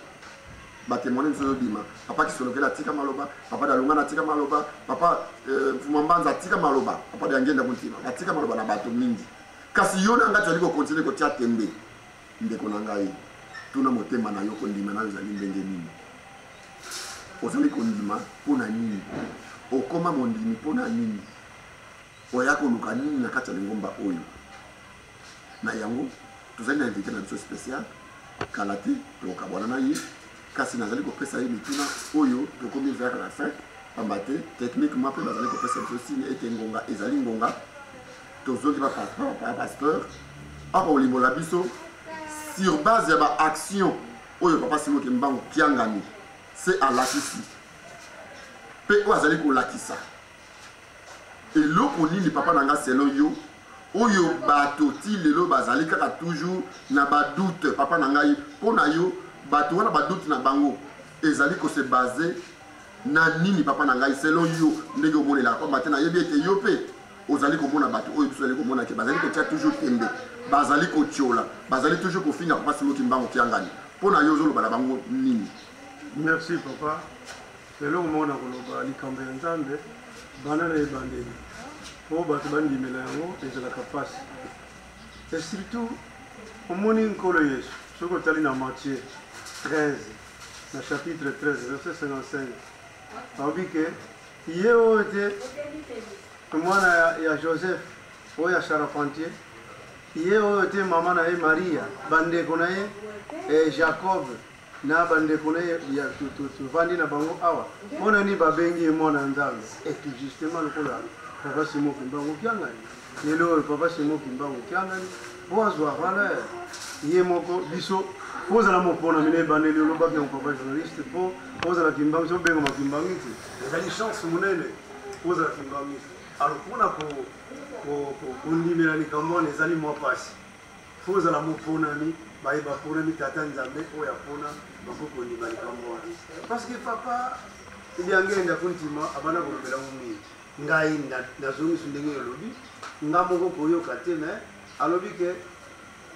ba témoigner biso yo bima papa kisolokela tika maloba papa dalunga na tika maloba papa euh, mfuma mbanza atika maloba papa de angenda kuntima batika maloba na bato mingi kasi yo na ngai tozali kokontinue kotia tembe ndeko na ngai tuna motema na yo kondima nayo ezali ndenge nini ozali kondima mpo na nini okoma mondimi mpo na nini oya koluka nini na kati ya lingomba oyo Na yango, tozali na invite na biso special. Kala te tokabwana na ye, kasi nazali kopesa ye mituna oyo tokomi vers la fin, pamba te techniquement mpe bazali kopesa biso signe ete ngonga ezali ngonga. Tozongi ba pasteur akolimbola biso sur base ya ba action oyo papa Simon Kimbangu Kiangani se alakisi mpe oyo azali kolakisa Eloko nini papa na nga selon yo oyo bato ti lelo bazali kaka toujours na ba doute papa na ngai mpo na yo bato wana ba doute na bango ezali ko se base na nini papa na ngai selon yo ndenge omonelaka pamba te nayebi ete yo mpe ozali komona bato oyo biso ozali komona ke bazali kotia toujours tembe bazali kotiola bazali toujours kofinga papa simoki mbango kiangani mpo na yo ozoloba na bango nini merci papa Eloko moko na koloba, likambo ya Nzambe banda na ebandeli mpo bato bandimela yango ezalaka mpasi. E surtout omoni Nkolo Yesu, soki otali na Matthieu 13 na chapitre 13 verset 55 alobi ke ye oyo te mwana ya, ya Joseph oyo ya charpentier ye oyo te mama na ye Maria bandeko na ye eh, Jacob na bandeko na ye ya tovandi na bango awa mpo na nini babengi ye mwana ya nzambe eki justement lokola papa simo kimbangu kiangani lelo oyo papa simo kimbangu kiangani mpo azwa valeur ye moko biso mpo ozala moponami na ebandeli olobaki yango papa journaliste mpo ozala kimbangu so obengama kimbangu te ezali chance monene mpo ozala kimbangu alors mpona kondimela likambo wana ezali mwa mpasi Mpo ozala moponami, baye baponami Tata Nzambe oyo apona bakoki kondima likambo wana. Parce que papa Diangende akontima abanda kolobela ngo mingi. Ngai nazongisi ndenge olobi, nga moko koyoka te mais alobi ke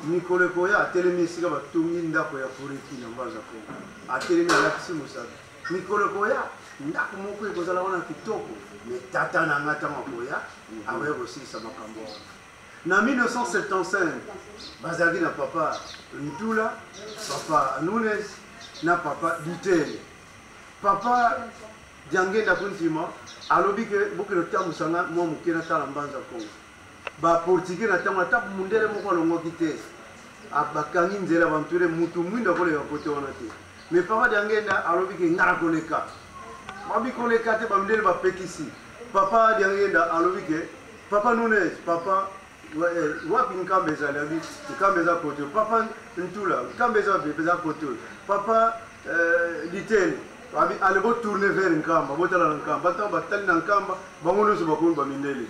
mikolo ekoya atelemi esika batongi ndako ya koreki na mbanza kongo atelemi alakisi mosaka mikolo ekoya ndako moko ekozala wana kitoko me tata na nga ntango akoya akoya kosilisa makambo wana Na 1975, bazalaki na papa Ntula, papa Nunes na papa Dutele. Papa Diangenda Kuntima alobi ke bokende kotambusa ngai mwa moke natala mbanza Kongo. Ba portugais na ntango ata mundele moko alongwaki te, bakangi nzela banture mutu mwinda koleka kote wana te. Me papa Diangenda alobi ke ngai nakoleka, babi koleka te, bamindele bapekisi. Papa Diangenda alobi ke Papa Nunez, papa eh, wapi nkamba ezali abi nkamba eza kote papa ntula nkamba eza wapi eza kote papa eh, litele abi ale botourne vers nkamba botala na nkamba ntango batali na nkamba bango nyonso bakomi bamindele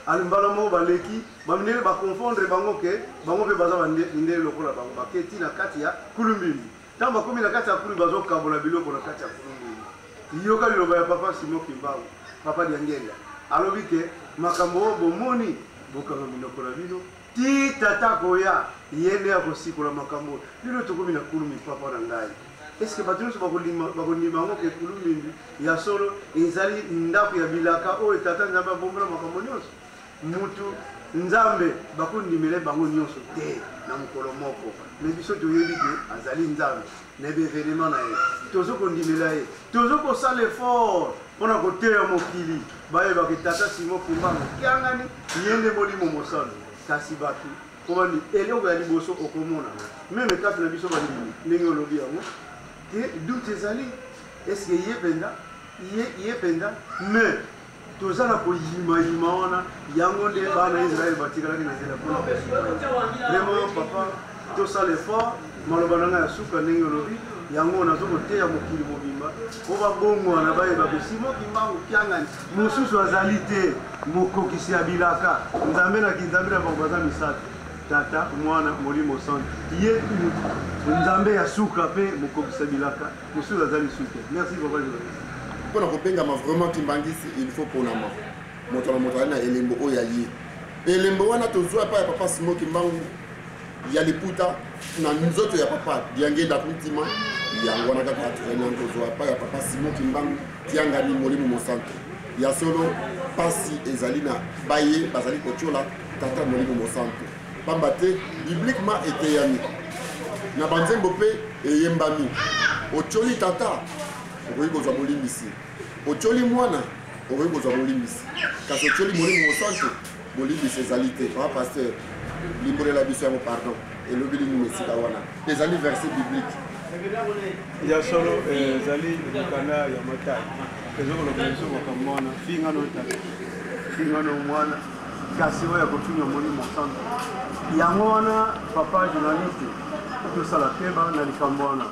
ale mbala moko baleki bamindele baconfondre bango ke bango mpe baza mindele lokola bango baketi na kati ya kulumbimbi Ntango bakomi na kati ya kulungu, bazokabola biloko na kati ya kulungu. Yoka liloba ya Papa Simon Kimbangu, Papa Diangenga alobi ke makambo oyo bomoni bokanga minoko na bino ti tata koya ye nde akosikola makambo oyo bino tokomi na kulumi papa na ngai eske bato nyonso bakondima yango ke kulumi ya solo ezali ndako ya bilaka oyo tata nzambe abombola makambo nyonso mutu nzambe bakondimele bango nyonso te na mokolo moko me biso toyebi ke azali nzambe na baevenema na ye tozo kondimela ye tozo kosala effort mpona koteya mokili bayebake tata simo kimbangu kiangani ye nde molimo mosantu kasi bato komani eloko ya liboso okomona meme kati na biso bandimi ndenge olobi yango te doute ezali eske ye mpenza ye mpenza mais toza na koyimayima wana yango nde bana ya israele batikalaki na nzela mpona vraiment papa tosala effort maloba na ngai ya suka ndenge olobi yango nazo koteya mokili mobimba mpo babongwana bayeba besimo kimbangu kiangani mosusu azali te mokokisi ya bilaka nzambe na kinzambe na bango baza misato tata mwana molimo santu ye nzambe ya suka mpe mokokisa bilaka Mosusu aza lisusu te. Merci papa journaliste. Mpo na kobengama vraiment Kimbangisi il faut ponama. Moto na moto na elembo oyo aye. Elembo wana tozwa epai ya papa Simon Kimbangu ya liputa na nzoto ya papa Diangenda Kuntima yango wana kaka atrenant kozwa epai ya papa Simon Kimbangu Kiangani Molimo Mosanto. Ya solo pasi ezali na baye bazali kotyola tata Molimo Mosanto. Pamba te bibliquement eteyami na banzembo mpe eyembami, otyoli tata, okoki kozwa bolimbisi, otyoli mwana, okoki kozwa bolimbisi, kasi otyoli Molimo Mosantu, bolimbisi ezali te. Papa pasteur, limbolela biso yango pardon, elobi nini na esika wana? Ezali verset biblique ya solo eh, ezali mokanda ya matai ezokoloba biso makambo wana fingano tata fingano mwana kasi oyo ya kofinga omoni mosantu yango wana papa journaliste tosala keba na likambo wana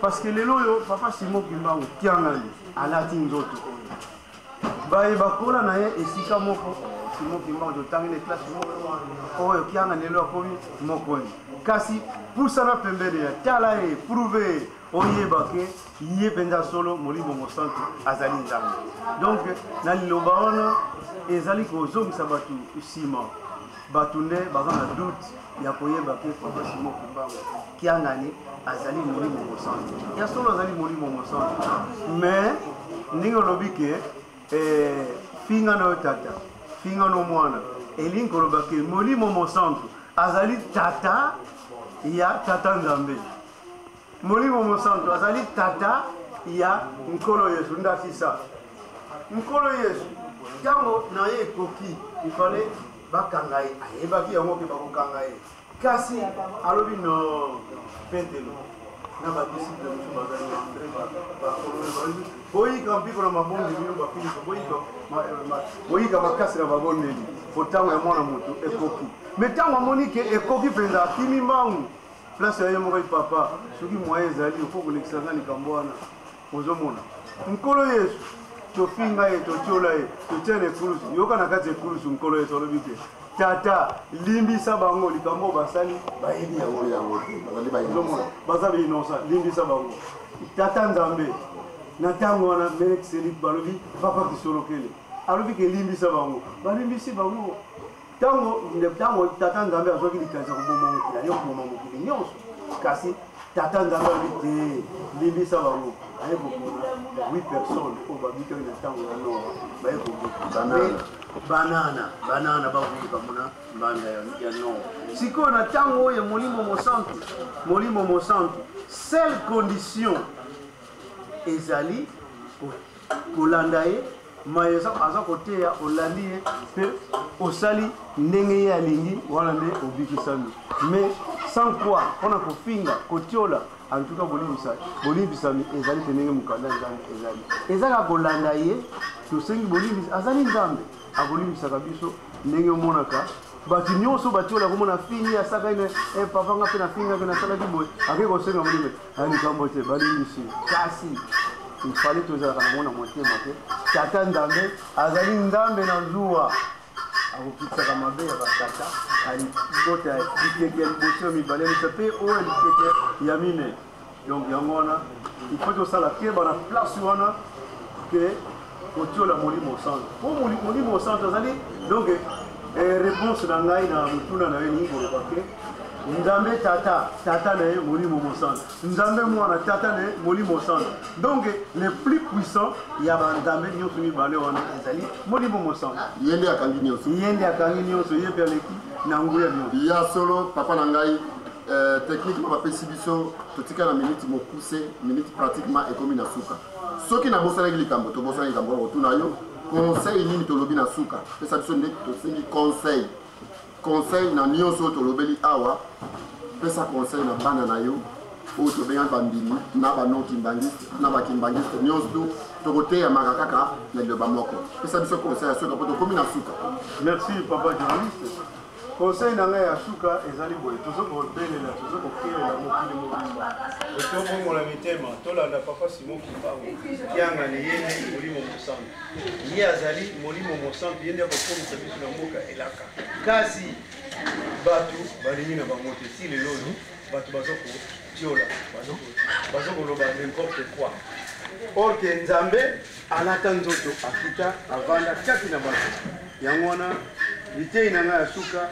parce que lelo oyo papa simo kimbangu kiangani alati nzoto oyo baye bakola na ye esika moko simo kimbangu totangi na eklase moko oyo kiangani lelo akomi mokonzi kasi pusana pembeni ya tala ye prouve ye oyeba ke ye mpenza solo molimo mosantu azali nzambe donc na liloba wana ezali kozongisa bato nsima bato nde baza na doute ya koyeba ke papa simo kumbango kiangani azali molimo mosantu ya solo azali molimo mosantu mais ndenge olobi ke eh, finga na yo tata finga no mwana elingi koloba ke molimo mosantu azali tata ya tata nzambe Molimo Mosantu azali tata ya Nkolo Yesu. Ndakisa, Nkolo Yesu ntango na ye ekoki, ifale bakanga ye, ayebaki yango ke bakokanga ye, kasi alobi no Petelo na badisiple mosusu bazali na Andre bakolona balobi boyika mpiko na mabondeli bino bafiliso boyika makasi na babondeli po ntango ya mwana moto ekoki me ntango amoni ke ekoki mpenza akimi mbangu place ya ye moko papa soki moye ezali ofo kolekisa nga likambo wana ozomona nkolo yesu tofinga ye totyola ye totyana ekulusu yoka na kati ekulusu nkolo yesu alobi te tata limbisa bango likambo oyo basali bayebi yango yango teomona baza bainosa limbisa bango tata nzambe na ntango wana melekiseli balobi papa kisolokele alobi kelimbisa bango balimbisi bango ntango ntango tata nzambe azwaki likanisi ya koboma mokili aye koboma mokili nyonso kasi tata nzambe alobi te limbisa bango aye koboma 8 personnes oyo babikaki na ntango ya noa baye koboma banana banana bakuti bamona mbanda ya noa sikoyo na ntango oyo ya molimo mosantu molimo mosantu seule condition ezali kolanda ye mai aza koteya olandi ye mpe osali ndenge ye alingi wana nde obikisami mais sans quoi mpona kofinga kotiola antuka bolimbisami ezali mpe ndenge mokanda nzambe ezali ezaka kolanda ye tosengi bolimbisi azali nzambe akolimbisaka biso ndenge omonaka bato nyonso batiola komona fingi asaka ene eh, papa nga mpe nafingaki nasalaki boye akei kosenga molimo Ani ngambo te balimbisi kasi ifale tozalaka nango na motema te tata nzambe azali nzambe na zuwa akokitisaka mabe ya batata alibota bikeke ya liboso ya mibale misa mpe oyo ya bikeke ya mine donc yango wana ifo tosala keba na place wana ke kotiola molimo santu mpo molimo santu azali donc eh, réponse na ngai na motuna na ye elingi koloba ke nzambe tata tata na ye molimo mosantu nzambe mwana tata na ye molimo mosantu donc le plus puissant ya banzambe nyonso mibale wana ezali molimo mosantu ye nde akangi nyonso ye nde akangi nyonso ye mpe aleki na nguya nyonso ya solo papa na ngai eh, techniquement bapesi biso totika na minute mokuse minute pratiquement ekomi na suka soki nabosanaki likambo tobosanaki likambo wana kotuna yo conseil nini tolobi na suka pesa biso nde tosengi conseil conseil na nyonso oyo tolobeli awa pesa conseil na bana na yo oyo tobengaki bandimi na bano kimbangiste na bakimbangiste nyonso tu tokoteyamaka kaka na liloba moko pesa biso conseil ya suka mpo tokomi na suka merci papa journaliste Conseil na ngai ya suka ezali boye, tozo kobelela, tozo kokelela mokili mobimba. Tobongola mitema, tolanda Papa Simon Kimbangu, kianga na ye nde Molimo Mosantu. Ye azali Molimo Mosantu, ye nde akokomisa biso na mboka elaka. Kasi bato balingi na bango te, ti lelo oyo bato bazo kotiola, bazo koloba n'importe quoi. Or que Nzambe Alata nzoto akita avanda kati na bato. Yango wana liteyi na ngai ya suka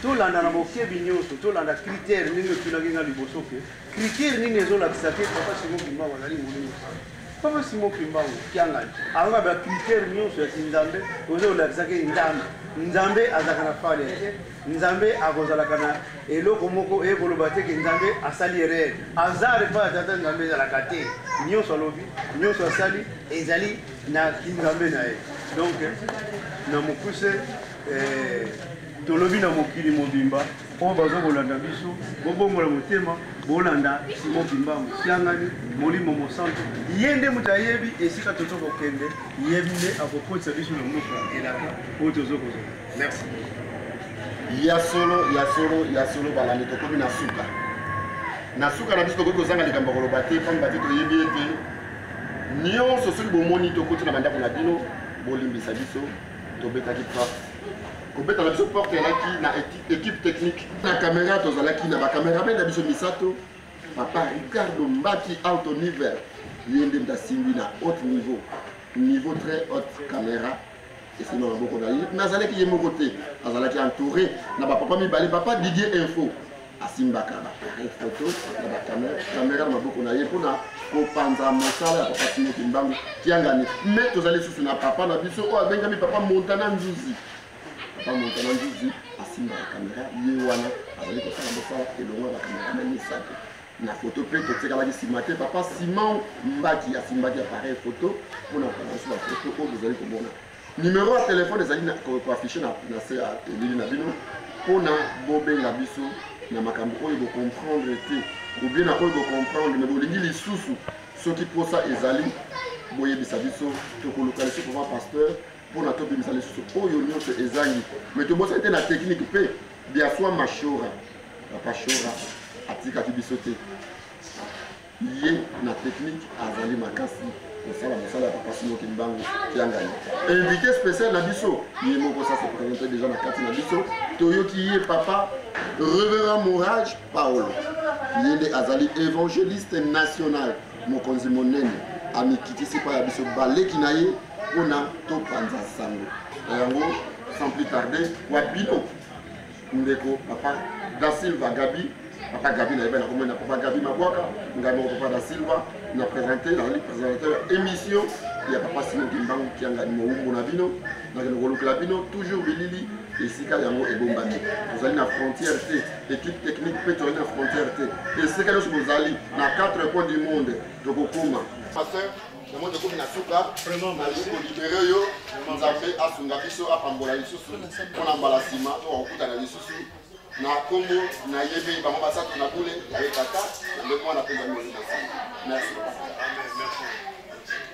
tolanda na bokebi nyonso tolanda kritere ndenge otunaki ngai liboso ke kritere nini ezolakisa te papa simo kimbangu azali molimo sana papa simo kimbangu kiangani ayoka bakritere nyonso ya kinzambe ozo olakisaki nzambe nzambe azalaka na fale te nzambe akozalaka na eloko moko eye koloba te ke nzambe asali erreur hasard epai ya tata nzambe ezalaka te nyonso alobi nyonso asali ezali na kinzambe na ye donc na mokuse eh, tolobi na mokili mobimba oyo baza kolanda biso bobongola motema bolanda simo bimba mosiangani molimo mosantu ye nde moto ayebi esika tozo kokende ye nde akokotisa biso na mboka elaka oyo tozo kozala merci ya solo ya solo ya solo balandi tokomi na suka na suka na biso tokoki kozanga likambo ya koloba te mpamba te toyebi ete nyonso soki bomoni tokoti na bandako na bino bolimbisa biso tobetaki porte kobeta na biso porte elaki na équipe technique na camera tozalaki na bacameramen na biso misato papa ricardo mbaki auto niver ye nde moto asimbi na haute niveau niveau très haute camera esili na maboko na ye me azalaki ye moko te azalaki entouré na bapapa mibale papa didier info asimbaka bapareil foto na bakamera na maboko na ye mpona kopanza mosala ya papa timoki mbangu kiangani me tozali lisusu na papa na biso oyo abengami papa montana nzuzi papa montana nzuzi asimbaka kamera ye wana azali kosala mosala elongo ya bakamera na misato na foto mpe totikalaki nsima te papa simon mbaki asimbaki appareil foto mpo na kokanisa bafoto oyo bozali komona nimero ya telefone ezali koaffiche na se ya elili na bino mpo na bobenga biso na makambo oyo bocomprendre te obie na oyo bocomprendre me bolingi lisusu soki mposa ezali boyebisa biso tokoluka lisusu papa pasteur mpo na tobimisa lisusu oyo nyonso ezangi me tobosani te na teknike mpe biaswa mashora papa shora atikaki biso te ye na teknike azali makasi kosala mosala ya papa simoki mbangu kiangani invité spécial na biso ye moko sa se présente déjà na kati na biso toyoki ye papa reverend mourage paolo ye nde azali évangéliste national Mokonzi monene amikitisi epai ya biso baleki na ye mpo na topanza sango na yango. Sans plus tarder, wa bino ndeko papa da Silva Gabi papa Gabi na yebana komona papa Gabi Mabwaka ngai moko papa da Silva na présenter na présentateur émission ya papa Simon Kimbangu Kiangani mowumbu na bino Nakende kolukela bino toujours bilili esika yango ebombami. Tozali na frontière te, équipe technique mpe tozali na frontière te. Esika nyonso bozali na quatre coins du monde tokokoma. Pasteur, yango tokomi na suka, nalingi kolibere yo, Nzambe asunga biso, apambola lisusu mpo na mbala nsima to akokutana lisusu na nkombo na ye mpe bango basato na bule ya ye tata na nde mwana mpe zambi na merci.